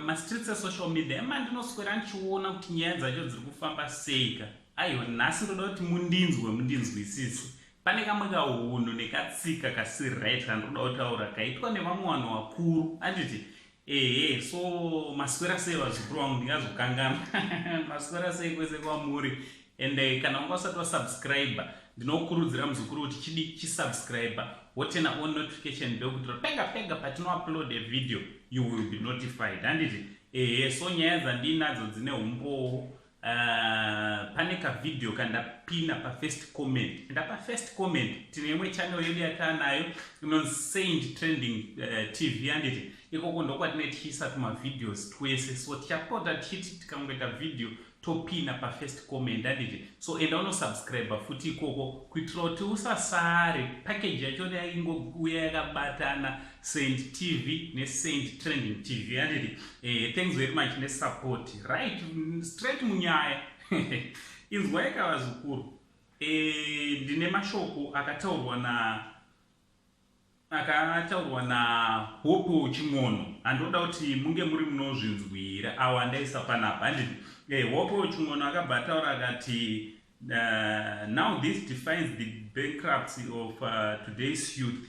mastreets esocial media ema ndinoswera ndichiona kuti nyaya dzacho dziri kufamba seika aiwa nhasi ndoda kuti mundinzwe mundinzwisise pane kamwe kaunhu nekatsika kasiri right kandinoda kutaura kaitwa nevamwe vanhu vakuru anditi Ehe, so maswera sei vazukuru vangu ndingazokanganwa maswera sei kwese kwamuri and eh, kana unga usati wasubscribe ndinokurudzira muzukuru kuti chidi chisubscribe wotena on notification bell kuitira pega pega patinoupload a video you will be notified handiti ehe so nyaya dzandinadzo dzine umbowo Uh, pane ka video kandapina pa first comment and pa first comment tine imwe channel yedu yataa nayo inonzi saint trending uh, tv yanditi ikoko ndokwatine tichiisa tuma videos twese so tichapota tichiti tikangoita video topina pa first comment anditi so enda unosubscribe futi ikoko kuitira kuti usasare package yacho yaingouya yakabatana Saint TV ne Saint Trending TV yandiri eh, thanks very much ne support right straight munyaya inzwai ka vazukuru eh, ndine mashoko akataurwa na akataurwa na Hope Ching'ono andoda kuti munge muri munozvinzwira awa ndaisa panapa handiti eh, Hope Ching'ono akabva ataura akati uh, now this defines the bankruptcy of uh, today's youth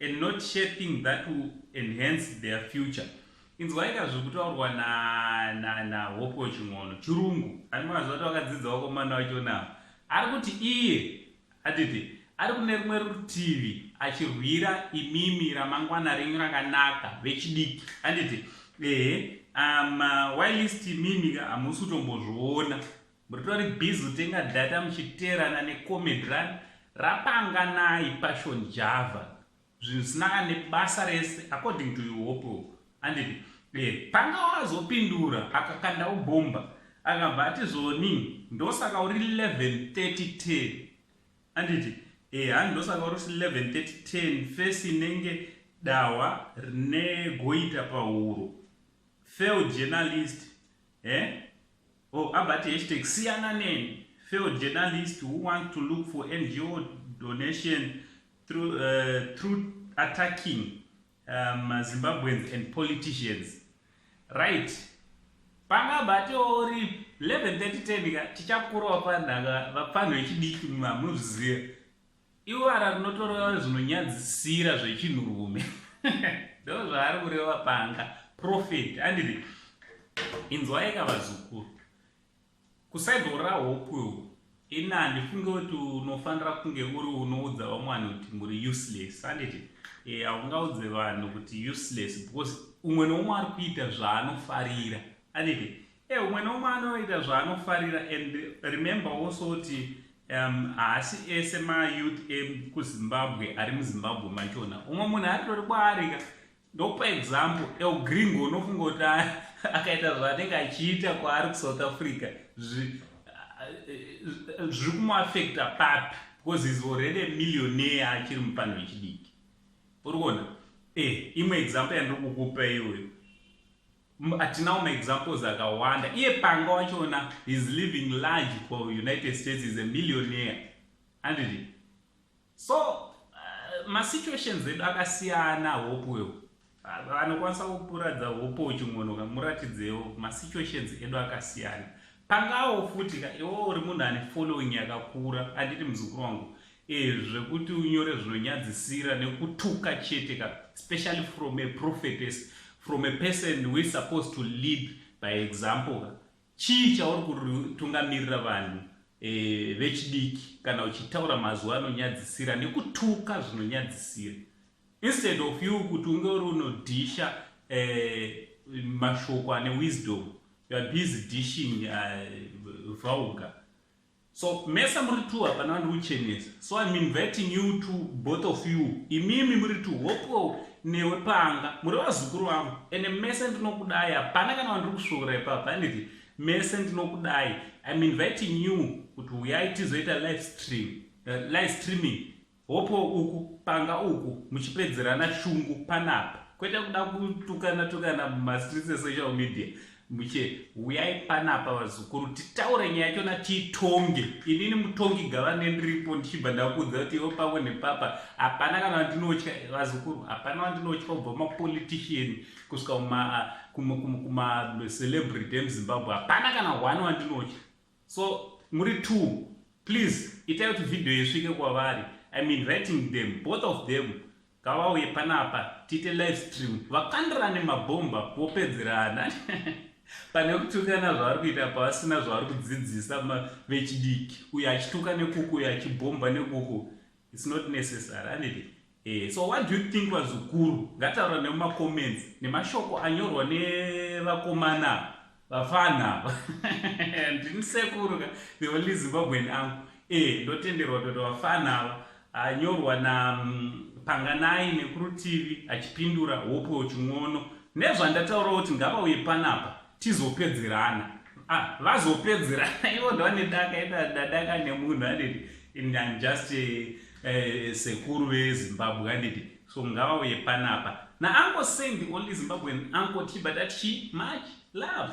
and not share thing that will enhance their future inzwaika zviri kutaurwa nahope weching'ono chirungu andimaziva kuti vakadzidza vakomana vachonavo ari kuti iye atiti ari kune rimwe rutivi achirwira imimi ramangwana renyu rakanaka vechidiki anditi ehe um, why list imimi hamusi kutombozviona Muritori busy kutenga data muchiteerana ne comedy run rapanganai passion java zvinhu zvisina kana nebasa rese according to you hope anditi eh panga wazopindura akakanda ubomba akabva ati zvoni ndosaka uri 11:30 10 anditi eh handi ndosaka uri 11:30 10 face inenge dawa rine goita pahuro failed journalist eh Oh, abati hashtag siyana neni failed journalist who want to look for ngo donation through, uh, through attacking um, zimbabweans and politicians right panga bati ori 11 30 10 ka tichakurwa panhaka vapfanhu vechidiki munhu amuzviziva Iwara rinotoreva zvinonyadzisira zvechinhurume. Ndo zvaari kureva panga. Prophet. Andiri. Inzwai ka vazukuru. Kusaido ra hope uyu. Ini handifunge kuti unofanira kunge uri unoudza vamwe vanhu kuti muri useless. Anditi. Eh, haungaudze vanhu kuti useless because umwe noumwe ari kuita zvaanofarira. Anditi. Eh, umwe neumwe anoita zvaanofarira and remember also kuti um, haasi um, ese mayouth ekuzimbabwe ari muzimbabwe machona umwe munhu aritori kwaarika ndokupa example elgringo unofunga kuti akaita zvaanenge achiita kwaari kusouth africa zviri kumuafecta papi because is already millionaire achiri mupanho yechidiki uri kuona e eh, imwe example yandiri kukupa iyoyo Atinawo maexamples akawanda. Iye Panga wachona is living large for United States is a millionaire. Andidi. So uh, masituations edu akasiyana hope wewe. Vanokwanisa uh, kupuradza hope uchingonoka muratidzewo masituations edu akasiyana. Pangawo futi ka iwo uri munhu ane following yakakura anditi muzukuru wangu. Eh zvekuti unyore zvinonyadzisira nekutuka chete ka especially from a prophetess from a person who is supposed to lead by example ka chii chauri kutungamirira vanhu eh, vechidiki kana uchitaura mazuva anonyadzisira nekutuka zvinonyadzisira instead of you kuti unge uri unodhisha eh, mashoko ane wisdom youare busy dishing uh, eh, vulgar So mese muri two hapana vandiuchenesa so I'm inviting you to both of you imimi muri two hopo newe panga muri vazukuru vangu ende mese ndinokudai hapana kana vandiri kusvora ipapa handiti mese ndinokudai I'm inviting you kuti uyai tizoita live stream uh, live streaming Hopo uku panga uku muchipedzerana shungu panapa kwete kuda kutukana tukana mumastreets esocial media muche huyai panapa vazukuru titaure nyaya chona tiitonge inini mutongi gava nendiripo ndichibva ndakuudza kuti ivo pavo nepapa hapana kana vandinotya vazukuru hapana vandinotya kubva mapolitician kusvika kumacelebrity emuzimbabwe hapana kana one wandinotya So muri two please itai kuti video isvike kwavari i mean writing them both of them ngavauye panapa tiite live stream vakandirane mabhomba vopedzerana pane kutukana zvavari kuita pavasina zvavari kudzidzisa vechidiki uyo achituka nekuku uyo achibhomba nekuku It's not necessary, handiti? Eh, so what do you think vazukuru ngataura nemumacomments nemashoko anyorwa nevakomana vafana ava ndini sekuru ka the only zimbabwean angu eh, ndotenderwa kuti vafana ava anyorwa napanganai mm, nekurutivi achipindura hope uchin'ono nezvandataurawo kuti ngavauye panapa tizopedzerana ah, vazopedzerana ivo ndavanedaka idadaka nemunhu anditi and I'm just a, a sekuru vezimbabwe anditi so ngavauye panapa naanko send only zimbabwean anko tibata chi much love